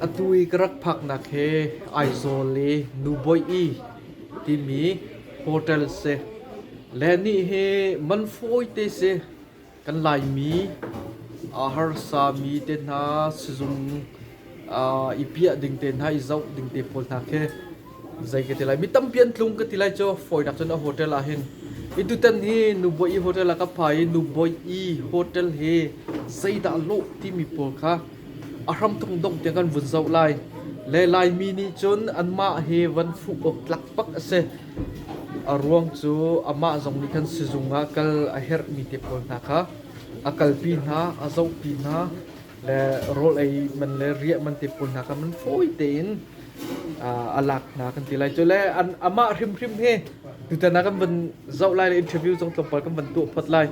Atu i ka rak phaknak hi Aizawl i Nubawi i timi hotel si. Le nih hi man fawite si kan Laimi ah harsami te hna sizung ah i piah ding te hna i zoh ding te pawl hna khi zei ka ti lai. Mi tampi an tlung ka ti lai cu fawinak cun a hotel ah hin. Hi tutan hi Nubawi hotel ah ka phai i Nubawi hotel hi zeidah lawh timi pawl kha A hramthawng dongh tiang kan vun zoh lai. Le Laimi nih cun anmah hi van fuh awk tlakpak a si. A ruang cu amah zong nih khan sizung ah kal a herhmi te pawl hna kha a kalpi hna, a zohpi hna le rawl ei man le riah man te pawl hna kha man fawi tein uh, a lak hna kan ti lai. Cu le an, amah hrimhrim hi tutan ah kan van zoh lai le interview zong tlawmpal kan van tuah phot lai.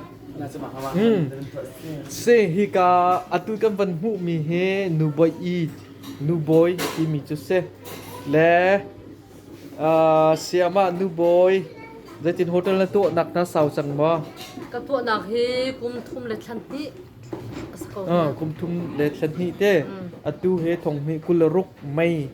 Si hika atu kan van hmuhmi hi nu bawi i nu bawi timi cu si le uh, siamah nu bawi zeitin hotel na tuahnak na sau cang maw ka tuahnak hi kum thum le thlan hnih kum thum le thlan hnih te atu he thong hi kul ruk mei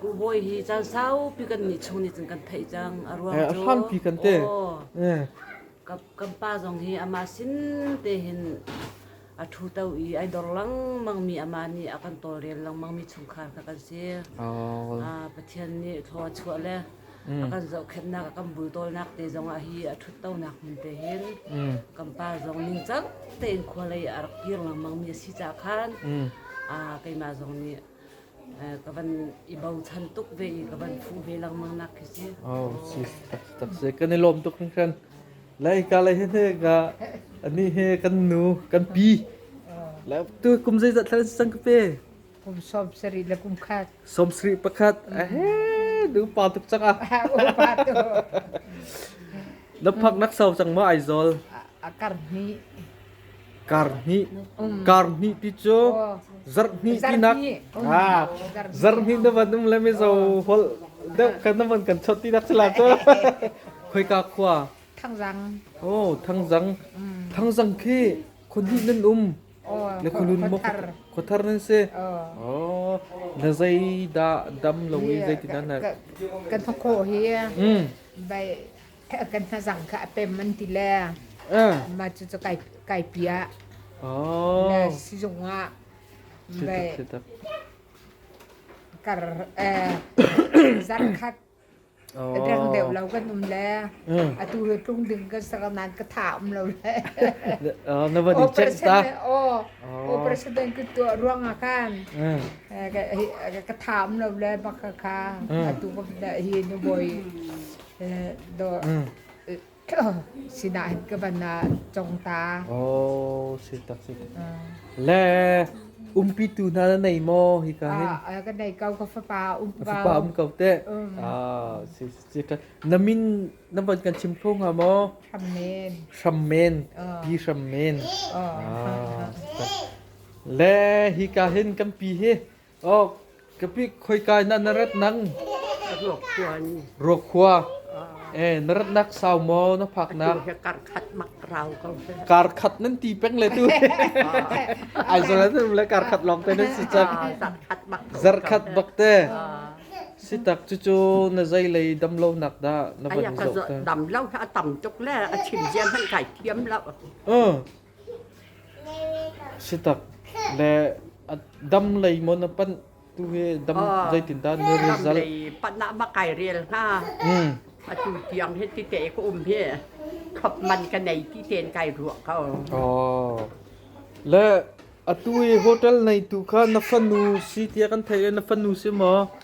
Kuh Bawi hi caan saupi kan nih chung nih cun kan theih cang. A ruang cu hrampi kan te. kan pa zong hi amah sin te hin a ṭhuto i ai dor lengmangmi amah nih a kan tawlrel lengmangmi chungkhar kha kan si. Pathian nih thlaw a chuah le a kan zohkhenhnak a kan bultawlnak te zongah hi a ṭhuttonak hmun te hin kan pa zong ningcang tein khua lei a rak kir lengmangmi a si caah khan keimah zong nih ka van i bochan tuk ve i ka van phu ve lengmang nak khi si. Oh, si tak si kan i lawm tuk kan kan. Lai ka lai he ga ani he kan nu kan pi. La tu kum zai zat thal sang pe. Kum som seri la kum khat. Som sri pakhat. Eh, du pa tuk chang ah. Pa tu. Na pak nak sau chang ma ai zol. Akar ni. Karhnih pi cu zarhhnih tinak zarhhnih na van um le mizo holh deuh khan na van kan chawt tinak si la cu khoika khua Thangzang oh Thangzang Thangzang khi khonhnih nan um le khonhlun maw khothar nan si oh na zei dah dam lo i zeitindah na kan hnakhawh hi kan hnazang kha a pem an ti le ma cu cu kai kai pi ah le sizung ah kar zarkhat deng deuh lo kan um le atu he tlung ding kan sar nan ka tha um lo le na va di check ta operation den ki tu ruang a kan ka tha um lo le baka ka atu hi nu boy dawr sinah hin ka van congta. Oh, si tak si. Le umpi tu hna na nei maw hi ka hin. Ah, ka nei kau ka fapa um ka. Fapa um kau te. Ah, si si ka na min na van kan chim kho nga maw. Hrammen. Hrammen. Pi hrammen. Ah, le hi ka hin kan pi hi Oh, kapi khoikai na na rat nang Ruakhuan. ruakkhua eh na rat nak sau mo na phak nak He kar khat mak rau ko. kar khat nan ti peng le tu ai zo na tu le kar khat long te na si chak Ah, kar khat mak. zar khat bak te Ah, si tak chu chu na zai lei dam lo nak da na van Aya ka zo zo ta dam lau ha tam tuk le a chim jian han kai thiam lau. ờ Sitak le a dam lei maw na panh tu hi dam zeitindah na result? Dam lei panah ma kai rel hnga. Atu tiang hi ti te ka um hi khop man ka nei ti ten kai ruah ko. Oh. Le atu hi hotel nei tu kha na fanu si tia kan thei na fanu si maw?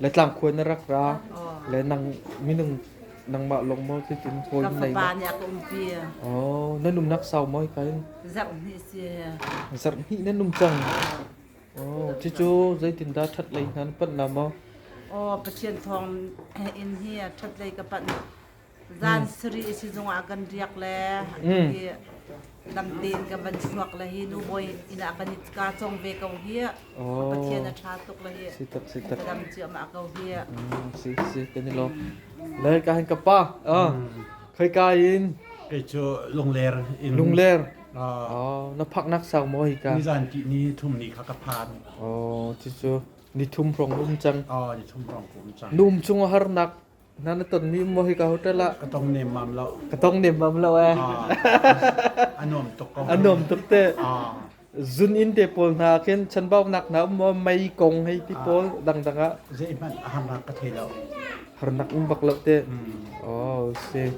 Le tlangkhuai na rak ra, le nang minung nangmah lawng maw cutin hawi Ka nei fapa ma? nih a ka umpi. Oh, na nunnak sau maw hikai? Zarh hnih si. Zarh hnih na num cang. Oh, cucu zeitindah ṭhat lei hna na panh la maw? Aw, Pathian thawng inn hi a ṭhatlei ka panh zan sarih sizung ah kan riak le i dam tein ka van suak le hi nu bawi inn ah kan i ka cong ve ko hi pathian a tha tuk le hi ka dam ciam ah ko hi si si kan i lo le ka hin ka pa khoi ka in kai cu lungler in lungler oh na phak nak sau mo hi ka ni zan ki ni thum ni kha ka phan oh ti chu ni thum prong um chang oh ni thum prong um chang num chung har nak Hna na ton mi maw hika hotel ah? Ka tong nemmam lo. Ka tong nemmam lo eh. A nuam tuk ko. A nuam tuk te. Zun in te pawl hna khin chanbau nak na um maw mei kong hei ti pawl dangdang ah. Zei hmanh a hamrak ka thei lo. Har nak um bak lo te. Oh si.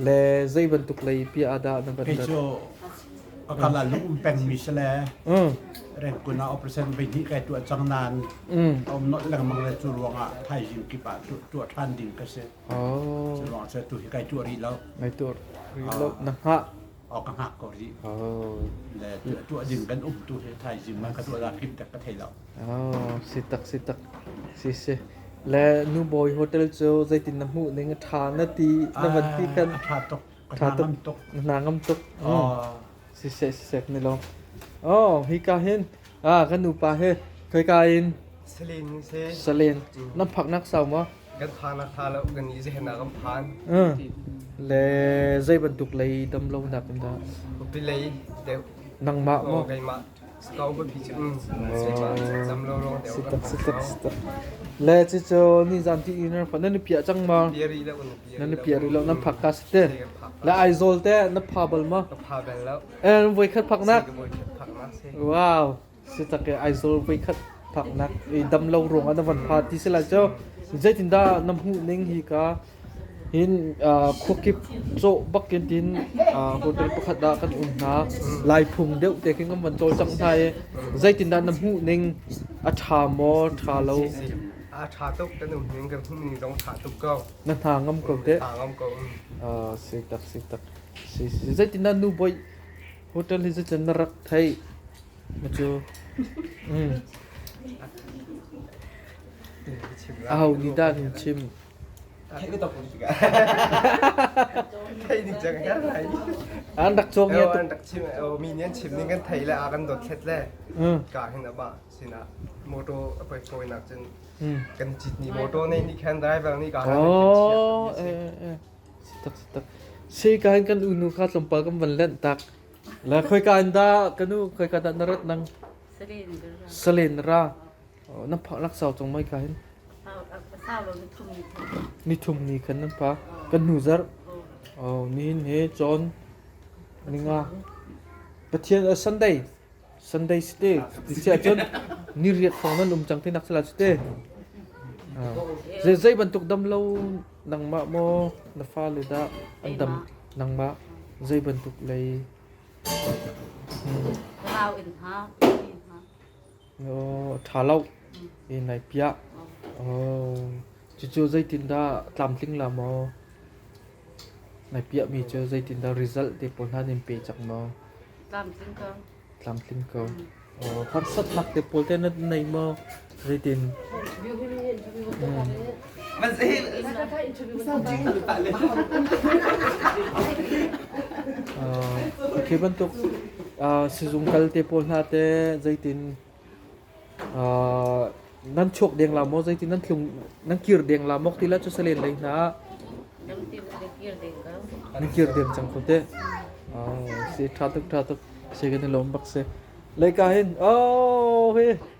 Le zei bantuk lei pi ada na ban. Hei cu pakal ah lung um pengmi si le red kun ah operation voi hnih kai tuah cang nain a um nolh lengmang le cu ruangah thaizing kip ah tuah ṭhan ding ka si oh. cu ruangah tu hi kai tuah rih lo kai tuah rih lo na hngah o ka hngak ko rih oh. le tuah ding kan um tu hi thaizing man ka tuah da kim tak ka thei lo oh si tak si tak si si le nu bawi hotel cu zeitin na hmuh ning a ṭha na ti na van ti kan a ṭha tuk A ṭha tuk. Na ngam tuk. Ah. Siseh siseh kan i lawm. Oh, hika hin ah kan nupa hi khoika in Salen se. Salen nan phaknak sau maw? Kan phan a tha lo kan i zehna kan phan. Mm. Le zei bantuk lei dam lo nak dah? Upi lei deu. Nangmah maw? Ngai ma. Le cucu nizan ti in an phak nan i piah cang ma? Nan i piah rih lo nan phak ka si te. Le Aizawl te na pha bal ma? Eh voikhat phaknak. Wow. Si tak ke Aizawl voikhat phaknak i damlo ruang an van pha ti si lai cu. Zeitindah na hmuh ning hi ka Khua kip cawh bakin in hotel pakhat ah kan um hna. Laiphung deuh te khin kan van cawlcangh hna i zeitindah na hmuh ning? A ṭha maw? Ṭha lo? A ṭha tuk kan um ning. Kan hmuh ning zong ṭha tuk ko. Na hna ngam ko teh? Hna ngam ko. Sitak, sitak. Zeitindah nu bawi hotel hi zeitin na rak theih? Na cu a ho nih dah an chim? an rak chuak nia an rak chim mi nih an chim ning kan thei le a kan dotthlet le ka hin aba sinah moto a poi poi nak cun kan chit ni moto nei ni khan driver ni ka oh tak tak sei ka kan unu kha tlompa kan van len tak la khoi ka anda kanu khoi ka da narat nang salen ra na phak lak sau cang mai ka hin ni thum ni khan nan phak ka nu zarh oh ni hin he chon ninga pathian a sunday sunday si te ti sia chon ni riat phong nan um chang ti nak sala si te ze zei bantuk dam lo nangma mo na fa le da an dam nangma zei bantuk lei Wow in ha, in ha. ṭha lo in ai piah. Cucu zeitindah tlamtling la maw nai piahmi cu zeitindah result te pawl hna nan pe cang maw? Tlamtling ko. Tlamtling ko. Harsatnak te pawl te na nei maw? Zeitin? khi bantuk sizung kal te pawl hna te zeitin nan chuak deng la mo zeitin nan tlung nan kir deng la mok tila chu salen lei hna nan kir deng chang ko te si tha tuk tha tuk se kan lom bak se leika hin oh he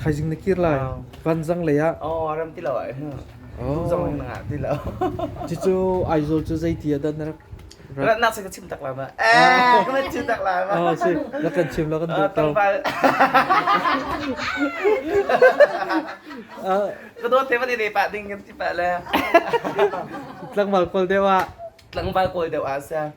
Thaizing na kir lai. Vanzang lei ah. Cucu Aizawl cu zeiti ah dah na rak Nak sih ka chim tak lama. Eh, ka chim tak lama. Oh, si, na kan chim lo kan duh tau. Ka dawt te ni pa ding kan ti pa le. Tlang mal kol dewa. Tlang mal kol dewa sa.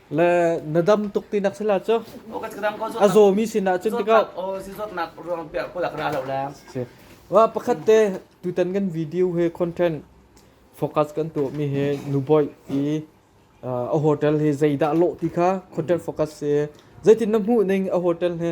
le na dam tuk ti nak sila cu a zawmi sinah cun tikah wa pakhat te tutan kan video he content focus kan tu mi he nuboi i a hotel he zeidah lo ti kha content focus se zeitin na hmuh ning a hotel he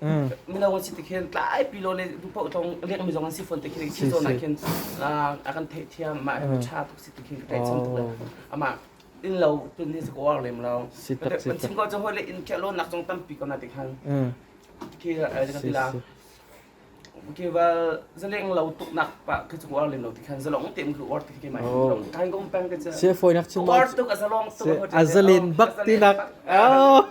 mino an si ti khin tlaipi lo le paoh tlong lengmi zong an si fawn ti khin si zawn ah khin a kan theih thiam mah hi tha tuk si ti khin ka tei cham tuk le amah in lo tun hi ka war lem lo kan chim ko chong le in ke lo nak chong tampi ko na ti khan ki ka tila ki wal zaleng lo tuk nak pa ka chung war lem lo ti khan zalong tem lu war ti ki mai long kan gom pang ka se foi nak chin war tuk azalong tuk azalen bak ti nak oh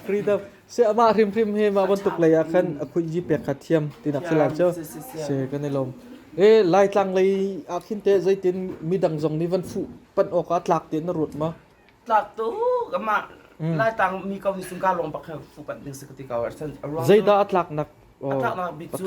freedom Si amah hrimhrim hi mah bantuk lei ah khan a khuji pek kha thiam tinak si lai cu si kan i lawm e laitlang lei ah khin te zeitin midang zong nih van fuh pan awk ah tlak te na ruat ma tlak tu amah laitlang mi ko nih sungka long bak kha fu pan ding si ka ti ko arsan zeida a tlak nak a tlak nak bik cu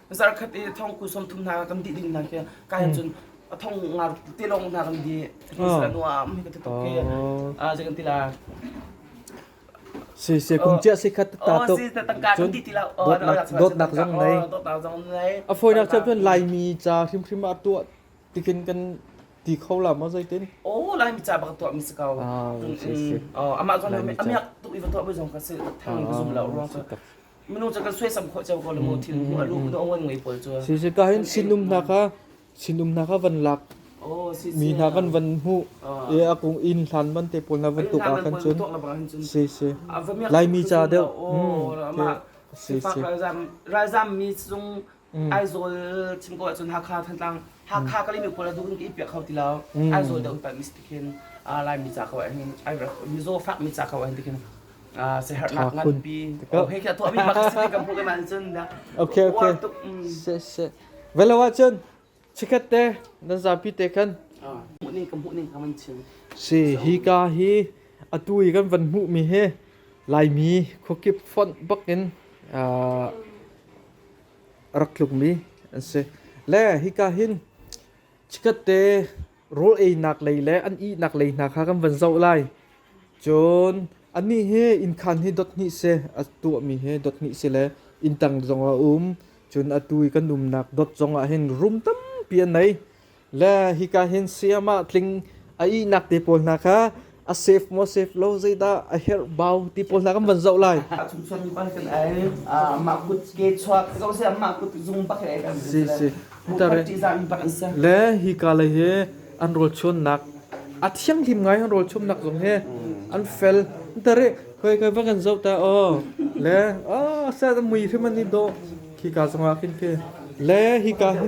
zarkhat i thong ku som thum hna kan dih ding nan ke kai hmm. cun a thong nga te lawng hna kan di sila nu am hi ka tuk ke a je kan tila si si kum chia si khat ta to cun dot nak zong nei a foi nak chan lai mi cha khim khim a tu tikin kan ti kho la ma zai tin o lai mi cha bak to mi ska ah si si oh ama zon me ami tu ivan to ba zong ka si thang zong la ruang minung cu kan suaisam khawh ceo ko le maw thil a lu a ngon ngei pawl cu si si ka hin sinum hna ka sinum hna ka van lak mi hna kan van hmu e a kung in hlan man te pawl na van tuk a kan chun si si laimi cha deuh si si ralzam mi zung Aizawl chim ko ahcun Hakha Thantlang Hakha Kalimi pawl a dukin ka ipiah kho ti lo Aizawl deuh panh mis tikin Laimi ca ko ahhin mizaw fak mi ca ko ahhin tikin se herhnak nganpi hei khi tuahmi mak si kan hmuh ke ma cun da okay okay se se velo ahcun Chikhat te nan zapi te khan si hi ka hi atu i kan van hmuh mi hi Laimi khuakip fonh bak in rak tluk mi an si. Le hi ka hin chikhat te rawl einak lei le an ihnak lei hna kha kan van zoh lai. Cun anih hi innkhan hi dot hnih si, a tuahmi hi dot hnih si le inntang zongah a um. Cun atu i kan umnak dot zongah hin rum tampi an nei. Le hika hin sayamah tling a ihnak te pawl hna kha a save maw save lo zeidah a herh bau ti pawl hna kan van zoh lai chung chuan mi ban kan ai amah kut ke chuak zo se amah kut zung bak ai kan si si tare le hi ka lai he an rol chuannak a thianghlim ngai an rol chumnak zong he an fel tare khoi khoi va kan zoh ta o le o sa mui hrim ani do khi ka zong ah khin khi le hi ka hi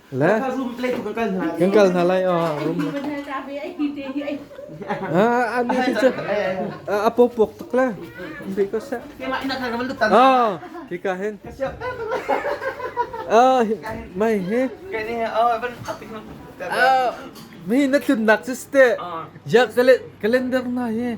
Le kan kal hna lai oh room ah an ni chu a pokpok tuk le because ah ki ka hen ah mai he ah mi na tlun nak chu ste ya calendar na he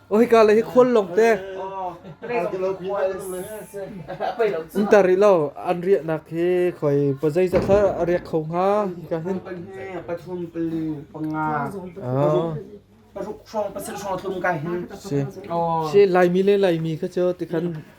Oi ka le hi khual long te. Ntar rih lo an riah nak hi khoi pozai za thla a riak kho nga ka hin. Pathum pali panga. Ah. Paruk hrawng pasal hrawng tlum ka hin. Si. Si lai mi le lai mi kha chu tikhan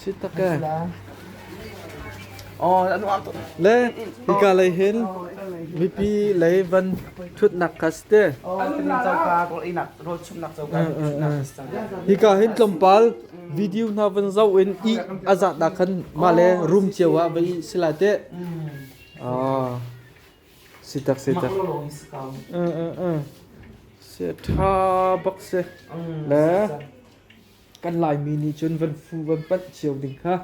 Sittake. Oh, anu ak. Le hika lei hin mipi lei van thut nak kaste. Hika hin tlawmpal video na van zau in i azat da khan ma le room cio wa bai sila te. Ah. Sitak sitak. Eh eh eh. Se tha bak se. Le kan Laimi nih cun van fu van panh cio ding kha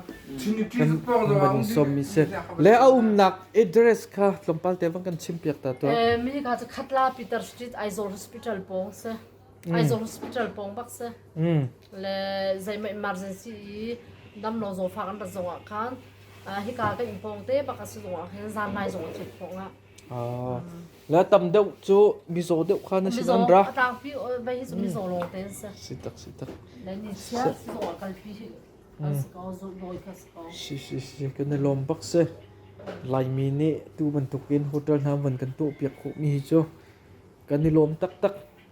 kan van sawm mi si le a umnak address kha tlawmpal te bang kan chim piak ta tuah Eh, mi ka ca khatla Peter Street Aizawl Hospital pawng se Aizawl Hospital pawng bak se mm. le zeima emergency i damlo zo fa kan rat zong ah khan ah, hika kan in pawng te bak a si zong ah khin zan lai zong a thut pawng ah La tam deuh cu mizaw deuh kha na sin an ra. Mizaw a tlangpi vei cu mizaw lo te se. Sitak sitak. Le ni chia sizaw a kalpi asiko zoloi kasiko. Si si si kan lom bak se. Laimi nih tu bantukin hotel hna van kan tuah piak khawh mi hi cu kan i lom taktak.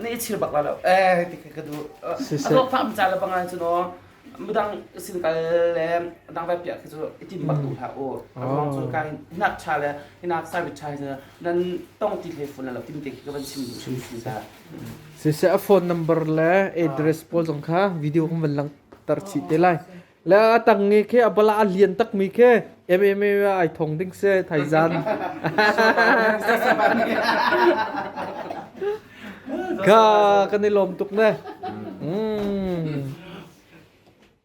na i chil bak la lo eh ti ka du a tok fam cha la bang an chu no mudang sin kal le dang va pia khu i tim bak du hla o a bang chu ka nak cha le hinak sa bit cha na nan tong ti le phun la lo tim te ka ban sim du sim sim ta si se a phone number le address pawl zong kha video hum van lang tar chi te lai Le a tang nge khi a bala a lian takmi khi MMA ah ai thong ding se thaizan. Ka kan i lawm tuk ne. Mm.